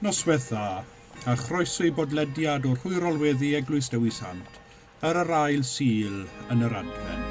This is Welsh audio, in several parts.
Noswaith dda, a chroeso i bodlediad o Rhwyrolweddi Eglwys Dewi Sant, Ar yr ail Sul yn yr Adfent.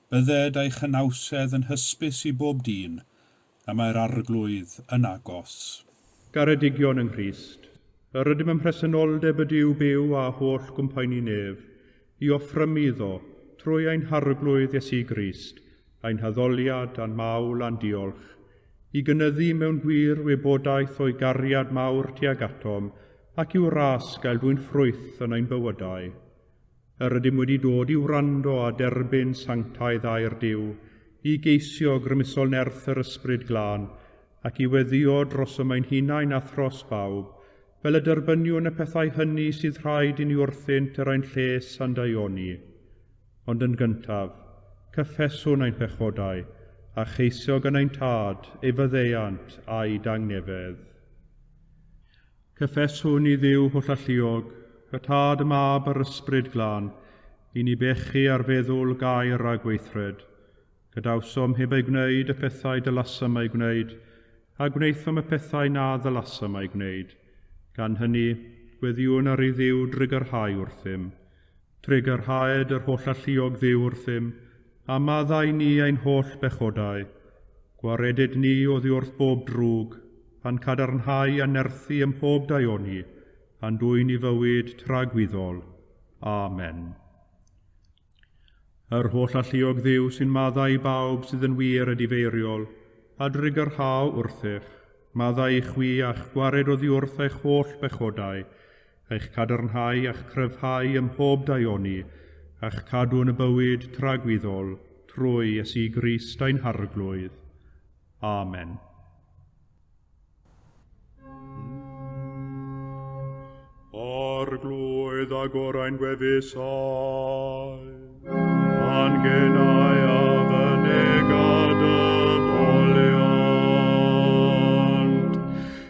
Bydded ei chynawsedd yn hysbys i bob dyn, a mae'r Arglwydd yn agos. Garedigion yng Nghrist, yr ydym ym mhresenoldeb y Duw byw a holl gwmpaini nef, i offrymu iddo, trwy ein Harglwydd Iesu Grist, ein haddoliad a'n mawl a'n diolch, i gynyddu mewn gwir wybodaeth o'i gariad mawr tuag atom, ac i'w ras gael dwyn ffrwyth yn ein bywydau. Yr ydym wedi dod i wrando a derbyn sanctaidd air Duw, i geisio grymusol nerth yr Ysbryd Glân, ac i weddïo drosom ein hunain a thros bawb, fel y derbyniwn y pethau hynny sydd rhaid i ni wrthynt er ein lles a'n daioni. Ond yn gyntaf, cyffeswn ein pechodau, a cheisio gan ein Tad ei faddeuant a'i dangnefedd. Cyffeswn i Dduw holl alluog, y Tad, y Mab a'r Ysbryd Glân, i ni bechu ar feddwl, gair a gweithred. Gadawsom heb eu gwneud y pethau dylasem eu gwneud, a gwnaethom y pethau na ddylasem eu gwneud. Gan hynny, gweddïwn ar ei Dduw drwy garhau wrthym. Trigyrhaed yr holl alluog Dduw wrthym, a maddau ni ein holl bechodau. Gwaredid ni oddi wrth bob drwg, a'n cadarnhau a nerthu ym mhob daioni, a'n dwyn i fywyd tragwyddol. Amen. Yr holl alluog Dduw sy'n maddau i bawb sydd yn wir a difeiriol, a drigyrhau wrthych, maddau i chwi a'ch gwared oddi wrth eich holl bechodau, a'ch cadarnhau a'ch cryfhau ym mhob daioni, a'ch cadw yn y bywyd tragwyddol, trwy Iesu Grist ein Harglwydd. Amen. Arglwydd a gorau'n gwefusau, angenau a fy negad y foliant.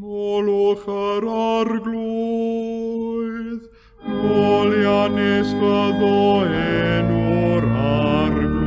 Molwch yr arglwydd, molianus fyddo enw'r arglwydd.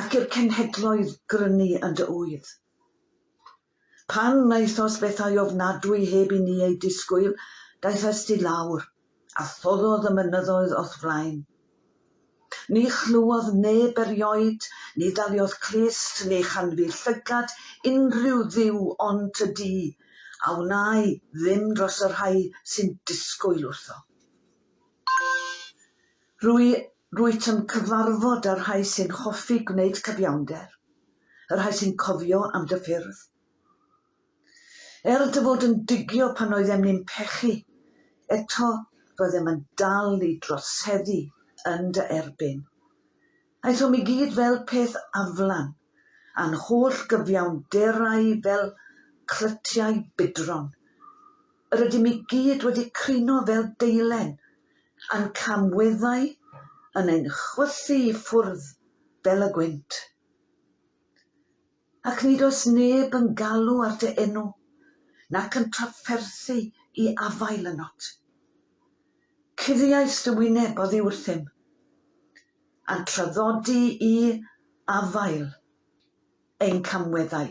Ac i'r cenhedloedd grynu yn dy ŵydd. Pan wnaethos bethau ofnadwy heb i ni eu disgwyl, daethest i lawr, a thoddodd y mynyddoedd o'th flaen. Ni chlywodd neb erioed, ni ddaliodd clust, ni chanfu llygad unrhyw dduw ond y du, a wnâi ddim dros y rhai sy'n disgwyl wrtho. Rwy, rwyt yn cyfarfod y rhai sy'n hoffi gwneud cyfiawnder, y rhai sy'n cofio am dy ffyrdd. Er dy fod yn digio pan oeddem ni'n pechu, eto roeddem yn dal i droseddu yn dy erbyn. Aethom i gyd fel peth aflan, a'n holl gyfiawnderau fel clytiau budron. Yr ydym i gyd wedi crino fel deilen, a'n camweddau yn ein chwythu i ffwrdd fel y gwynt. Ac nid oes neb yn galw ar dy enw, nac yn trafferthu i afael ynot. Cuddiais dy wyneb oddi wrthym, a'n traddodi i afael ein camweddau.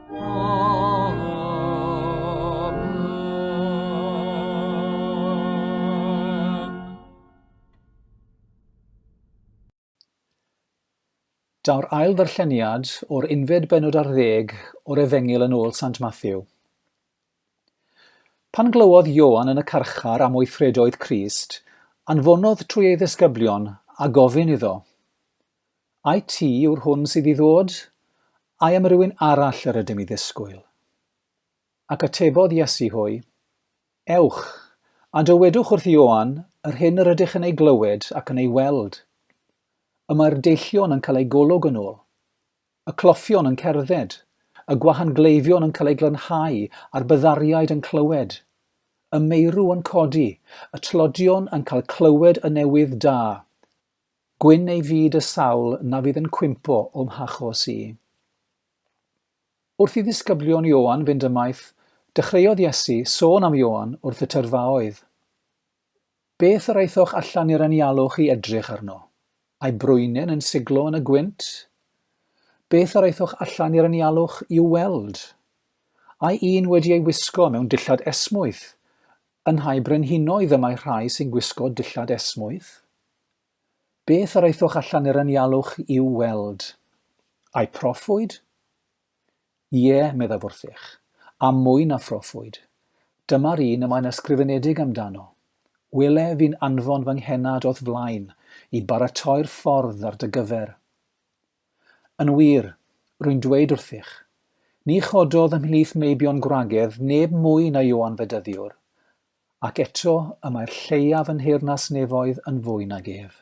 Daw'r ail ddarlleniad o'r unfed benod ar ddeg o'r Efengyl yn ôl Sant Matthew. Pan glywodd Ioan yn y carchar am weithredoedd Crist, anfonodd trwy ei ddisgyblion a gofyn iddo, I ti yw'r hwn sydd i ddod? I am rywun arall yr ydym i ddisgwyl? Ac atebodd Iesu hwy, Ewch, a dywedwch wrth Ioan yr hyn yr ydych yn ei glywed ac yn ei weld. Y mae'r deillion yn cael eu golwg yn ôl, y cloffion yn cerdded, y gwahan gleifion yn cael eu glanhau a'r byddariaid yn clywed, y meirw yn codi, y tlodion yn cael clywed y newydd da, Gwyn ei fyd y sawl na fydd yn cwympo o'm hachos i. Wrth i ddisgyblion Ioan fynd ymaith, dechreuodd Iesu sôn am Ioan wrth y tyrfaoedd. Beth yr aethoch allan i'r anialwch i edrych arno? Ai brwynyn yn siglo yn y gwynt? Beth yr aethoch allan i'r anialwch i'w weld? Ai un wedi ei wisgo mewn dillad esmwyth? Yn rhai brenhinoedd y mae rhai sy'n gwisgo dillad esmwyth. Beth yr aethwch allan i'r anialwch i'w weld? Ai proffwyd? Ie, meddaf wrthych, a mwy na phroffwyd. Dyma'r un y mae'n ysgrifenedig amdano. Welef i'n anfon fy nghennad o'th flaen i baratoi'r ffordd ar dy gyfer. Yn wir, rwy'n dweud wrthych, ni chododd ymhlith meibion gwragedd neb mwy na Ioan Fedyddiwr, ac eto y mae'r lleiaf yn nheyrnas nefoedd yn fwy nag ef.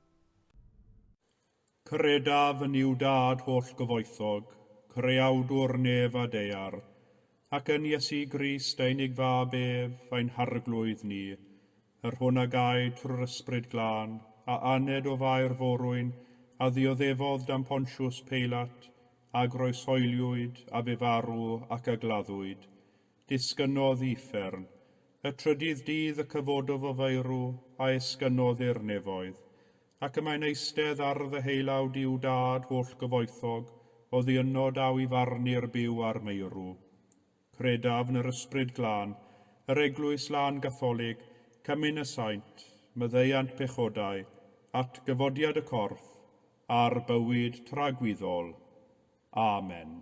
Credaf yn Iw Dad hollgyfoethog, Creawdwr nef a daear, ac yn Iesu Grist, ein Ig Fab ef, ein Harglwydd ni, yr hwn a gaed trwy'r Ysbryd Glân, a aned o faer forwyn, a ddioddefodd dan Pontiws Peilat, a groesoeliwyd, a bu farw, ac a gladdwyd. Disgynnodd uffern. Y trydydd dydd y cyfododd o faerw, a esgynnodd i'r nefoedd. Ac y mae'n eistedd ar ddyheulawd Duw Dad hollgyfoethog, oddi yno daw i farnu'r byw a'r meirw. Credaf yn yr Ysbryd Glân, yr Eglwys Lân Gatholig, cymyn y saint, myddeuant pechodau, atgyfodiad y corff, a'r bywyd tragwyddol. Amen.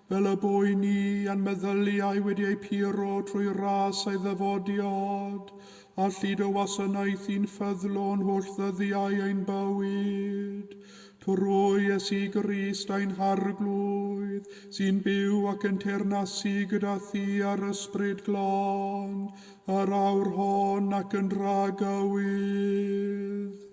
Fel y bo i ni, a'n meddyliau wedi eu puro trwy ras ei ddyfodiad, a llid o wasanaeth i'n ffyddlon holl ddyddiau ein bywyd. Trwy Iesu Grist ein Harglwydd, sy'n byw ac yn teyrnasu gyda thi a'r Ysbryd Glân, yr awr hon ac yn rhagywyddd.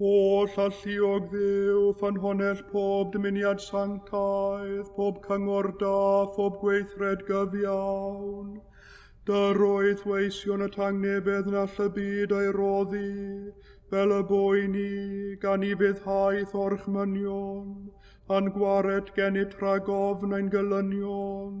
Holl alluog ddew, ffynhonell pob dymuniad sanctaidd, pob cyngor da, phob gweithred gyfiawn. Dy'r oedd weision y tangnefedd na all y byd ei roddi, fel y boi ni, gan i fyddhaeth o'r chmynion, a'n gwared gennyb tragofn ein gylynion.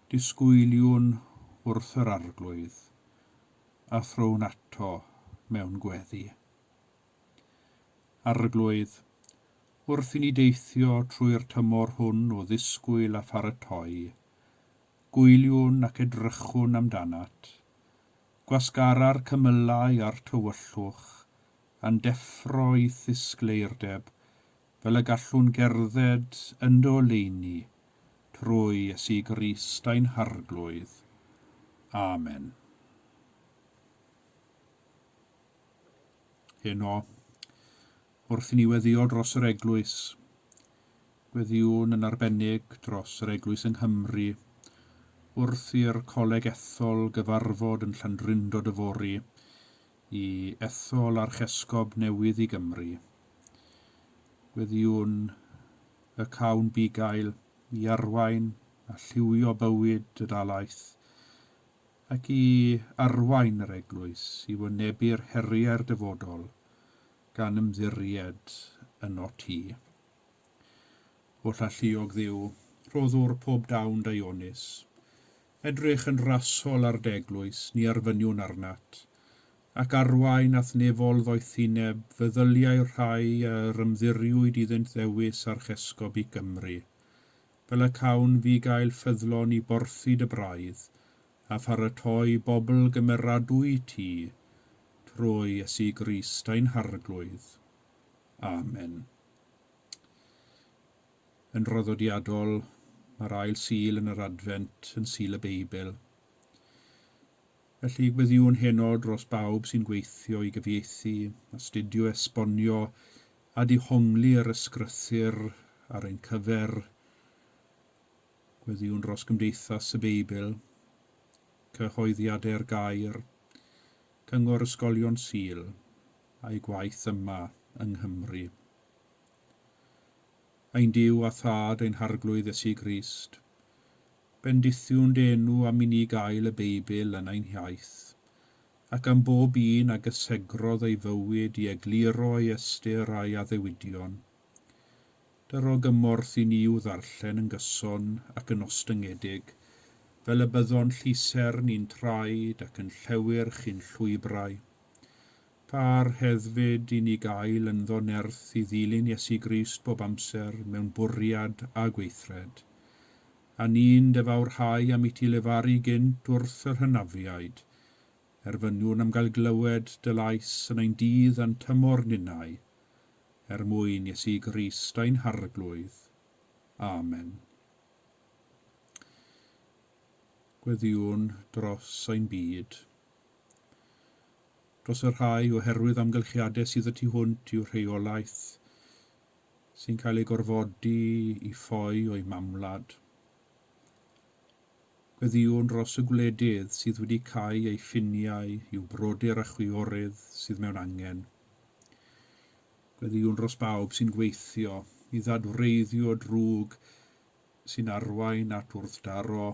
Disgwyliwn wrth yr Arglwydd, a thrown ato mewn gweddi. Arglwydd, wrth i ni deithio trwy'r tymor hwn o ddisgwyl a pharatoi, gwyliwn ac edrychwn amdanat. Gwasgara'r cymylau a'r tywyllwch, a'n deffro i ddisgleirdeb fel y gallwn gerdded ynddo leini trwy Iesu Grist ein Harglwydd. Amen. Heno, wrth i ni weddio dros yr Eglwys, gweddiwn yn arbennig dros yr Eglwys yng Nghymru, wrth i'r Coleg Ethol gyfarfod yn Llandrindod yfory, i ethol archesgob newydd i Gymru, gweddïwn y cawn bugail i arwain a lliwio bywyd y dalaith, ac i arwain yr Eglwys i wynebu'r heriau'r dyfodol, gan ymddiried yno ti. Holl alluog Dduw, rhoddwr pob dawn daionus, Edrych yn rasol ar d'eglwys, ni arfyniwn arnat, ac arwain a'th nefol ddoethineb fy ddyliau rhai a yr ymddiriwyd iddynt ddewis archesgob i Gymru, fel y cawn fi gael ffyddlon i borthi dy braidd, a pharatoi bobl gymeradwy i ti, trwy Iesu Grist ein Harglwydd. Amen. Yn draddodiadol, mae'r ail Sul yn yr Adfent yn Sul y Beibl. Felly, gweddïwn heno dros bawb sy'n gweithio i gyfieithu, astudio, esbonio a dihongli yr Ysgrythur ar ein cyfer. Gweddïwn dros Gymdeithas y Beibl, Cyhoeddiadau'r Gair, Cyngor Ysgolion Sul, a'i gwaith yma yng Nghymru. Ein Duw a Thad ein Harglwydd Iesu Grist, bendithiwn dy enw am i ni gael y Beibl yn ein hiaith, ac am bob un a gysegrodd ei fywyd i egluro ei ystyr a'i addewidion. Dy ro gymorth i ni i'w ddarllen yn gyson ac yn ostyngedig, fel y byddon llusern i'n traed ac yn llewyrch i'n llwybrau. Pa rhyddfyd i ni gael ynddo nerth i ddilyn Iesu Grist bob amser mewn bwriad a gweithred, a ni'n defawrhau am iti lefaru gynt wrth yr hynafiaid, er fy nhw'n am gael glywed dy lais yn ein dydd a'n tymor ninnau, er mwyn Iesu Grist ein Harglwydd. Amen. Gweddïwn dros ein byd. dros y rhai oherwydd amgylchiadau sydd y tu hwnt i'w rheolaeth, sy'n cael ei gorfodi i ffoi o'i mamwlad. Gweddïwn dros y gwledydd sydd wedi cau ei ffiniau i'w brodyr a chwiorydd sydd mewn angen. Gweddïwn dros bawb sy'n gweithio i ddadwreiddio drwg sy'n arwain at wrthdaro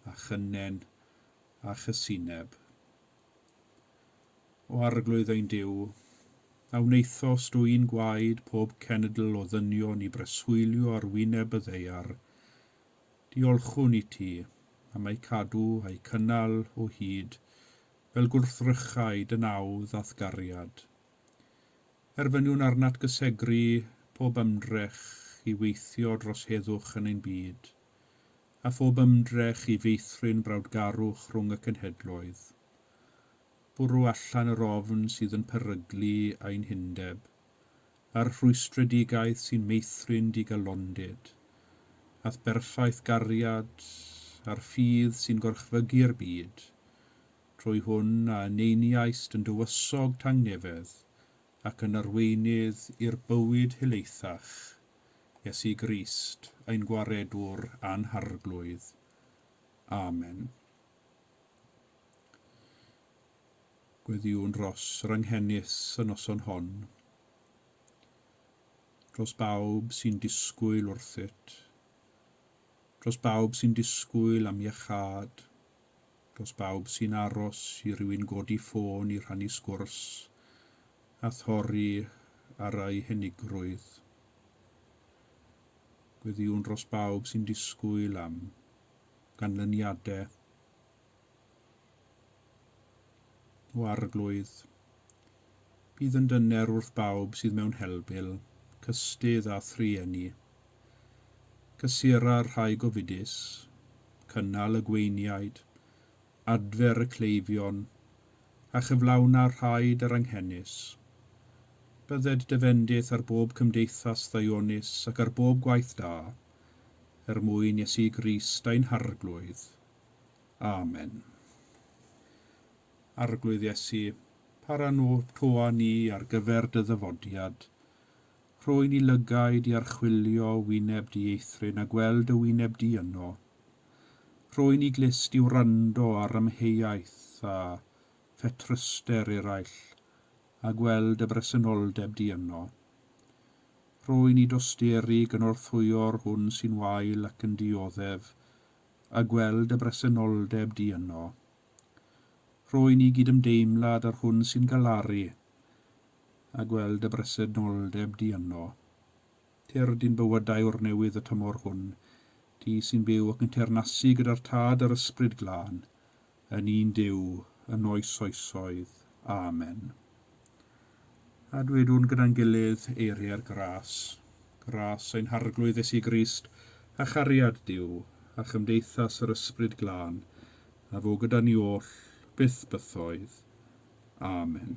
a chynnen a chysineb. O Arglwydd ein Duw, a wnaethost dwyn gwaed pob cenedl o ddynion i breswylio ar wyneb y ddaear, diolchwn i ti am eu cadw a'u cynnal o hyd fel gwrthrychau dy naw ddathgariad. Erfyniwn arnat gysegru pob ymdrech i weithio dros heddwch yn ein byd, a phob ymdrech i feithrin brawdgarwch rhwng y cenhedloedd. Bwrw allan yr ofn sydd yn peryglu ein hundeb, a'r rhwystredigaeth sy'n meithrin digalondid, a'th berffaith gariad, a'r ffydd sy'n gorchfygu'r byd, trwy hwn a yneiniaist yn dywysog tangnefedd ac yn arweinydd i'r bywyd helaethach. Iesu Grist, ein Gwaredwr a'n Harglwydd. Amen. Gweddïwn dros yr anghenus y noson hon, dros bawb sy'n disgwyl wrthyt, dros bawb sy'n disgwyl am iachâd, Dros bawb sy'n aros i rywun godi ffôn i rhannu sgwrs a thorri ar eu henigrwydd. Gweddïwn dros bawb sy'n disgwyl am ganlyniadau o arglwydd Bydd yn dyner wrth bawb sydd mewn helbul, cystudd a thrueni. Cysura'r rhai gofidus, cynnal y gweiniaid, adfer y cleifion, a chyflawna'r rhai daranghenus. Bydded dy fendith ar bob cymdeithas ddaionus ac ar bob gwaith da, er mwyn Iesu Grist ein Harglwydd. Amen. Arglwydd Iesu, para no toa ni ar gyfer dy ddyfodiad. Rhoi ni lygaid i archwilio wyneb di eithryn a gweld dy wyneb di yno. Rhoi ni glust i wrando ar amheuaeth a phetryster eraill a gweld dy bresenoldeb di yno. Rhoi ni dosteri gynorthwyo'r hwn sy'n wael ac yn dioddef a gweld dy bresenoldeb di yno. Rwy'n i gydymdeimlad â'r hwn sy'n galaru a gweld y bresenoldeb di yno. Tyrd i'n bywydau o'r newydd y tymor hwn, di sy'n byw ac yn teyrnasu gyda'r Tad a'r Ysbryd Glân, yn un Duw, yn oes oesoedd. Amen. A dwedwn gyda'n gilydd, Eiriau'r gras, gras ein Harglwydd Iesu Grist, a chariad Duw, a chymdeithas yr Ysbryd Glân, a fo gyda ni oll, byth bythoedd. Amen.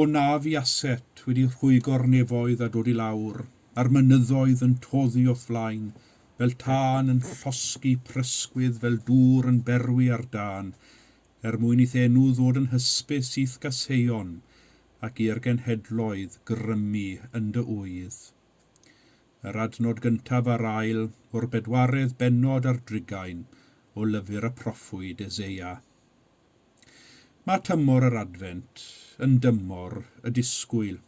O na fu aset wedi rhwygo'r nefoedd a dod i lawr, a'r mynyddoedd yn toddi o'th flaen, fel tân yn llosgi prysgwydd fel dŵr yn berwi ar dân, er mwyn i'th enw ddod yn hysbys i'th gaseion, ac i'r genhedloedd grymu yn dy ŵydd. Yr adnod gyntaf a'r ail o'r bedwaredd bennod ar drugain o lyfr y proffwyd Eseia. Mae tymor yr Adfent yn dymor y disgwyl.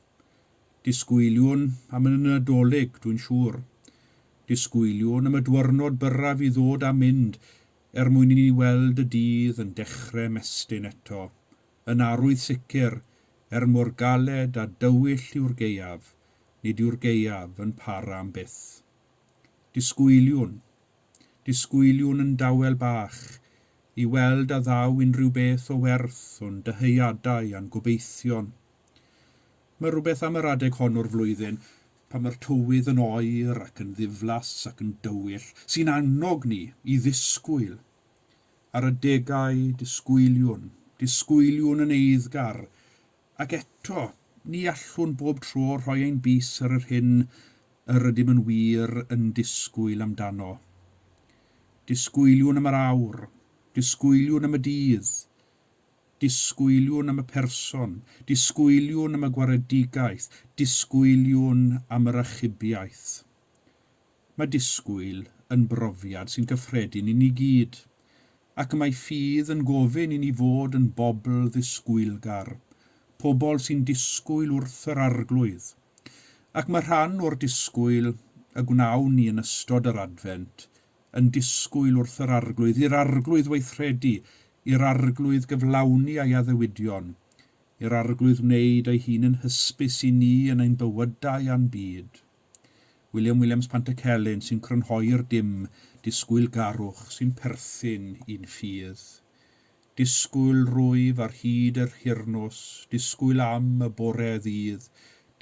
Disgwyliwn am y Nadolig, dwi'n siŵr. Disgwyliwn am y dwyrnod byrraf i ddod a mynd er mwyn i ni weld y dydd yn dechre 'mestyn eto, yn arwydd sicr, er mor galed a dywyll yw'r gaeaf, nid yw'r gaeaf yn para am byth. Disgwyliwn. Disgwyliwn yn dawel bach i weld a ddaw unrhyw beth o werth o'n dyheadau a'n gobeithion. Mae rhywbeth am yr adeg hon o'r flwyddyn, pan mae'r tywydd yn oer ac yn ddiflas ac yn dywyll, sy'n annog ni i ddisgwyl. Ar adegau, disgwyliwn, disgwyliwn yn eiddgar, Ac eto, ni allwn bob tro rhoi ein bys ar yr hyn yr ydym yn wir yn disgwyl amdano. Disgwyliwn am yr awr, disgwyliwn am y dydd, disgwyliwn am y person, disgwyliwn am y gwaredigaeth, disgwyliwn am yr achubiaeth. Mae disgwyl yn brofiad sy'n gyffredin i ni gyd, ac mae ffydd yn gofyn i ni fod yn bobl ddisgwylgar, pobl sy'n disgwyl wrth yr Arglwydd. Ac mae rhan o'r disgwyl y gwnawn ni yn ystod yr Adfent yn disgwyl wrth yr Arglwydd, i'r Arglwydd weithredu, i'r Arglwydd gyflawni ei addewidion, i'r Arglwydd wneud ei hun yn hysbys i ni yn ein bywydau a'n byd. William Williams Pantycelyn sy'n crynhoi'r dim disgwyl-garwch sy'n perthyn i'n ffydd. Disgwyl rwyf ar hyd yr hirnos, disgwyl am y bore ddydd,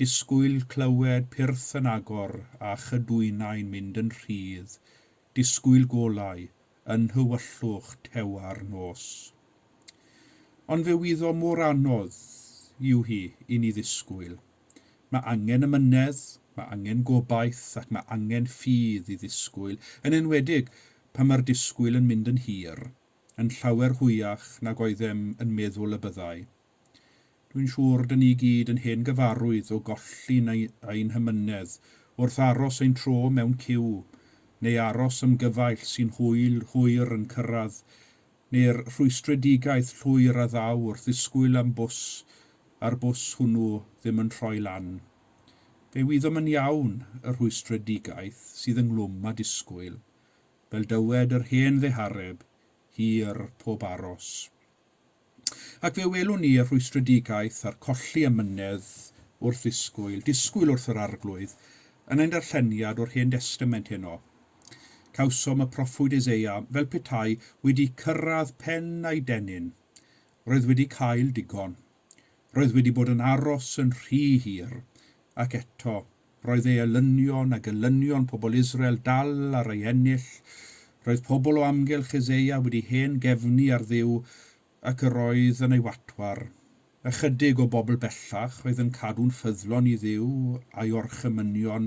disgwyl clywed pyrth yn agor a chydwynau'n mynd yn rhydd, disgwyl golau yn nhywyllwch tewa'r nos. Ond fe wyddo mor anodd yw hi i ni ddisgwyl. Mae angen amynedd, mae angen gobaith ac mae angen ffydd i ddisgwyl, yn enwedig pan mae'r disgwyl yn mynd yn hir, yn llawer hwyach nag oeddem yn meddwl y byddai. Dwi'n siŵr dyn ni gyd yn hen gyfarwydd o golli ein hamynedd wrth aros ein tro mewn ciw, neu aros am gyfaill sy'n hwyl hwyr yn cyrraedd neu'r rhwystredigaeth llwyr a ddaw wrth ddisgwyl am bws a'r bws hwnnw ddim yn troi lan. Fe wyddom yn iawn y rhwystredigaeth sydd ynghlwm â disgwyl, fel dywed yr hen ddehareb, hir pob aros. Ac fe welwn ni y rhwystredigaeth a'r colli amynedd wrth ddisgwyl, disgwyl wrth yr Arglwydd, yn ein darlleniad o'r Hen Destament heno. Cawsom y proffwyd Eseia fel petai wedi cyrraedd pen ei dennyn. Roedd wedi cael digon. Roedd wedi bod yn aros yn rhy hir. Ac eto, roedd ei elynion a gelynion pobl Israel dal ar ei ennill. Roedd pobl o amgylch Eseia wedi hen gefnu ar Dduw ac yr oedd yn ei watwar. Ychydig o bobl bellach oedd yn cadw'n ffyddlon i Dduw a'i orchymynion,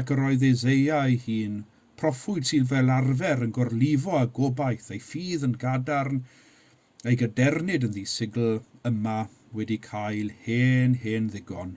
ac yr oedd Eseia ei hun, proffwyd sydd fel arfer yn gorlifo â gobaith ei ffydd yn gadarn, ei gadernid yn ddisigl, yma wedi cael hen, hen ddigon.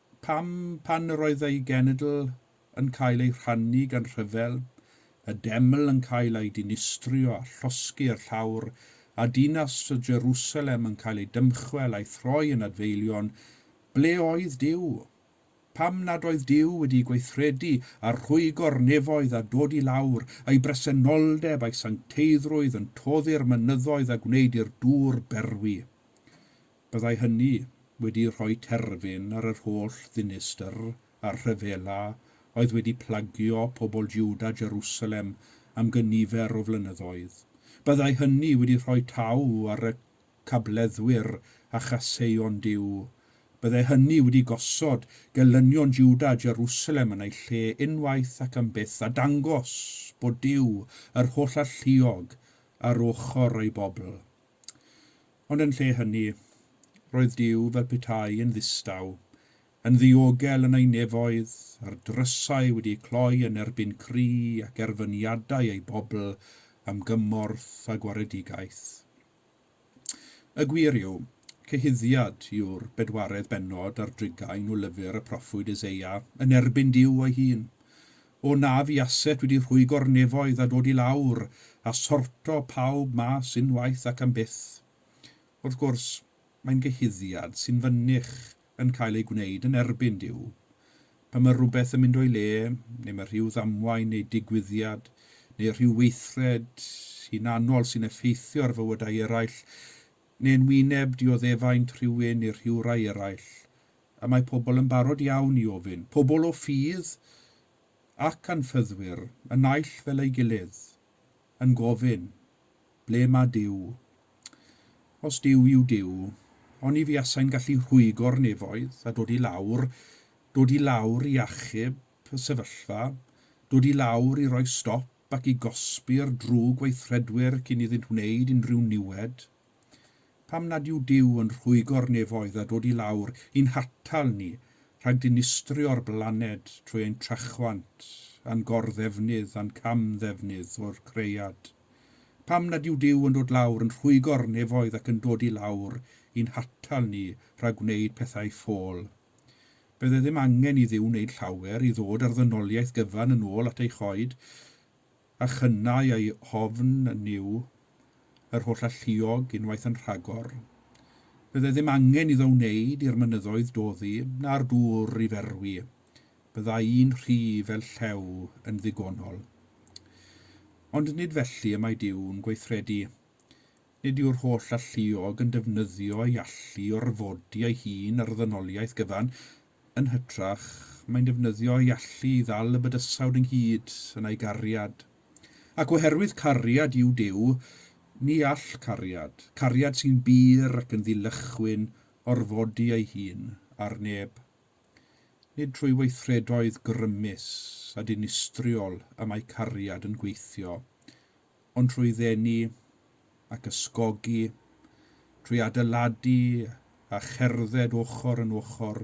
Pam, pan yr oedd ei genedl yn cael ei rhannu gan rhyfel, y deml yn cael ei dinistrio a llosgi i'r llawr, a dinas Jerusalem yn cael ei dymchwel a'i throi yn adfeilion, ble oedd Duw? Pam nad oedd Duw wedi gweithredu a rhwygo'r nefoedd a dod i lawr, ei bresenoldeb a'i sancteiddrwydd yn toddi'r mynyddoedd a gwneud i'r dŵr berwi? Byddai hynny wedi rhoi terfyn ar yr holl ddinistr a'r rhyfela oedd wedi plagio pobl Jwda Jerusalem am gynifer o flynyddoedd. Byddai hynny wedi rhoi taw ar y cableddwyr a chaseion Duw. Byddai hynny wedi gosod gelynion Jwda Jerusalem yn ei lle unwaith ac am byth a dangos bod Duw, yr Holl-Alluog, ar ochr ei bobl. Ond yn lle hynny, roedd Duw fel petai yn ddistaw, yn ddiogel yn ei nefoedd, a'r drysau wedi cloi yn erbyn cri ac erfyniadau ei bobl am gymorth a gwaredigaeth. Y gwir yw, cyhuddiad yw'r bedwaredd bennod ar drigain o lyfr y proffwyd Eseia yn erbyn Duw ei hun. O na fu aset wedi rhwygo'r nefoedd a dod i lawr a sorto pawb mas unwaith ac am byth. Wrth gwrs, mae'n gyhuddiad sy'n fynych yn cael ei gwneud yn erbyn Duw. Pan mae rhywbeth yn mynd o'i le, neu mae rhyw ddamwain neu digwyddiad, neu rhyw weithred hunanol sy'n effeithio ar fywydau eraill, neu yn wyneb dioddefaint rhywun neu rhyw rai eraill, A mae pobl yn barod iawn i ofyn, pobl o ffydd ac anffyddwyr y naill fel ei gilydd, yn gofyn, Ble mae Duw? Os Duw yw Duw, oni fuasai'n gallu rhwygo'r nefoedd a dod i lawr, dod i lawr i achub y sefyllfa, dod i lawr i roi stop ac i gosbi'r drwg weithredwyr cyn iddynt wneud unrhyw niwed? Pam nad yw Duw yn rhwygo'r nefoedd a dod i lawr i'n hatal ni rhag dinistrio'r blaned trwy ein trachwant a'n gor-ddefnydd a'n cam-ddefnydd o'r cread? Pam nad yw Duw yn dod lawr yn rhwygo'r nefoedd ac yn dod i lawr i'n hatal ni rhag gwneud pethau ffôl? Bydde ddim angen i Dduw wneud llawer i ddod â'r ddynoliaeth gyfan yn ôl at ei choed a chynnau a'i ofn yn Nuw, yr holl alluog, unwaith yn rhagor. Byddai ddim angen iddo wneud i'r mynyddoedd doddi, na'r dŵr i ferwi. Byddai un rhy fel llew yn ddigonol. Ond nid felly y mae Duw'n gweithredu. Nid yw'r holl alluog yn defnyddio ei allu i orfodi ei hun ar ddynoliaeth gyfan, Yn hytrach, mae'n defnyddio'i allu i ddal y bydysawd ynghyd yn ei gariad. Ac oherwydd cariad yw Duw, ni all cariad, cariad sy'n bur ac yn ddilychwyn, orfodi ei hun ar neb. Nid trwy weithredoedd grymus a dinistriol y mae cariad yn gweithio, ond trwy ddenu ac ysgogi, trwy adeiladu a cherdded ochr yn ochr,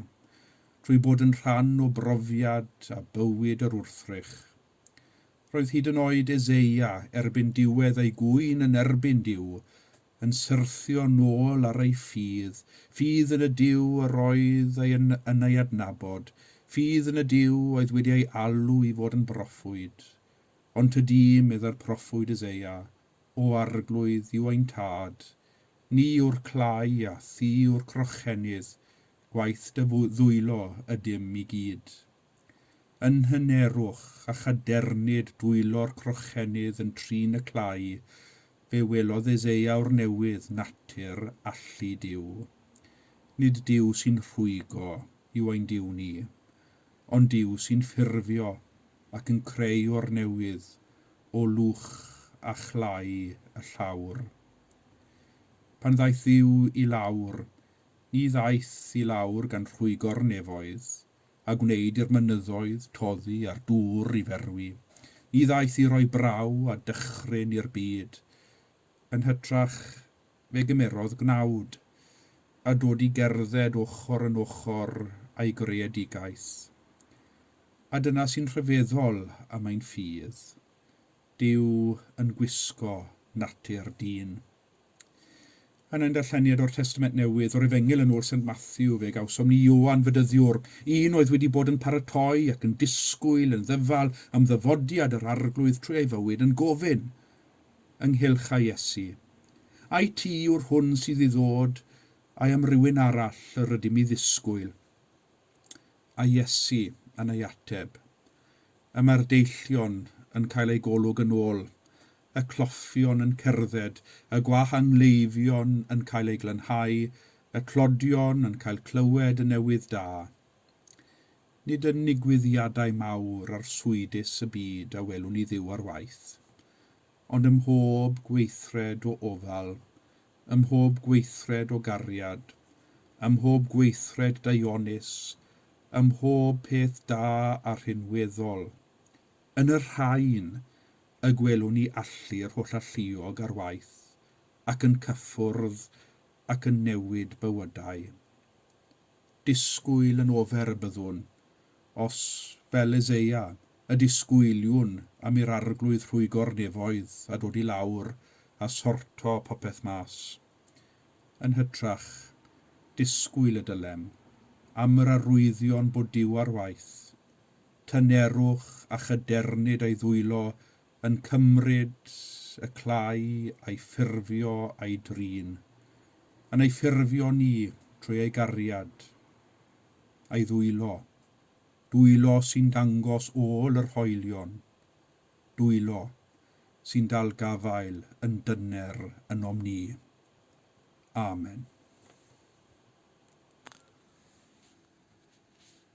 trwy bod yn rhan o brofiad a bywyd yr wrthrych. Roedd hyd yn oed Eseia, erbyn diwedd ei gŵyn yn erbyn Duw, yn syrthio nôl ar ei ffydd, ffydd yn y Duw yr oedd ei yn ei adnabod, ffydd yn y Duw oedd wedi ei alw i fod yn broffwyd. Ond te di, meddai'r proffwyd Eseia, o arglwydd yw ein Tad, ni yw'r clai a thi yw'r crochennydd, gwaith dy ddwylo ydym i gyd. Yn nhŷ nerwch, a chadernid dwylo'r crochennydd yn trin y clai, fe welodd Eseia o'r newydd natur allu Duw. Nid Duw sy'n rhwygo yw ein Duw ni, ond Duw sy'n ffurfio ac yn creu o'r newydd o lwch a chlai y llawr. Pan ddaeth Dduw i lawr, ni ddaeth i lawr gan rhwygo'r nefoedd, a gwneud i'r mynyddoedd toddi a'r dŵr i ferwi, ni ddaeth i roi braw a dychryn i'r byd, yn hytrach Fe gymerodd gnawd, a dod i gerdded ochr yn ochr â'i greadigaeth. A dyna sy'n rhyfeddol am ein ffydd, Duw yn gwisgo natur dyn. Yn ein darlleniad o'r Testament Newydd, o'r Efengyl yn ôl Saint Matthew, fe gawsom ni Ioan Fedyddiwr, un oedd wedi bod yn paratoi ac yn disgwyl yn ddyfal am ddyfodiad yr Arglwydd trwy ei fywyd, yn gofyn, ynghylch a Iesu. Ai ti yw'r hwn sydd i ddod, ai am rywun arall yr ydym i ddisgwyl? A Iesu yn ei ateb. Y mae'r deillion yn cael eu golwg yn ôl, y cloffion yn cerdded, y gwah a ngleifion yn cael eu glanhau, y clodion yn cael clywed y newydd da. Nid yn nigwyddiadau mawr arswydus y byd a welwn ni Dduw ar waith, ond ym mhob gweithred o ofal, ym mhob gweithred o gariad, ym mhob gweithred daionus, ym mhob peth da a rhinweddol. Yn y rhain y gwelwn ni allu yr holl alluog ar waith, ac yn cyffwrdd ac yn newid bywydau. disgwyl yn ofer y byddwn, os, fel Eseia, y disgwyliwn am i'r Arglwydd rhwygo'r nefoedd a dod i lawr a sorto popeth mas. Yn hytrach, disgwyl y dylem, am yr arwyddion bod Duw ar waith, tynerwch a chydernid a'i ddwylo yn cymryd y clai a'i ffurfio a'i drin, yn ei ffurfio ni trwy ei gariad, a'i ddwylo, dwylo sy'n dangos ôl yr hoelion, dwylo sy'n dal gafael yn dyner ynom ni. Amen.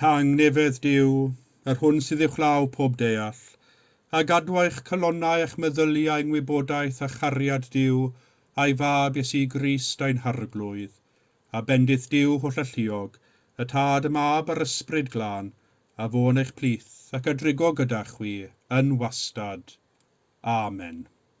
Tangnefedd Duw, yr hwn sydd uwchlaw pob deall, a gadw eich calonnau a'ch meddyliau yng ngwybodaeth a chariad Duw a'i Fab Iesu Grist ein Harglwydd, a bendith Duw hollalluog, y Tad, y Mab, a'r Ysbryd Glân, a fo yn eich plith, ac a drigo gyda chwi, yn wastad. Amen.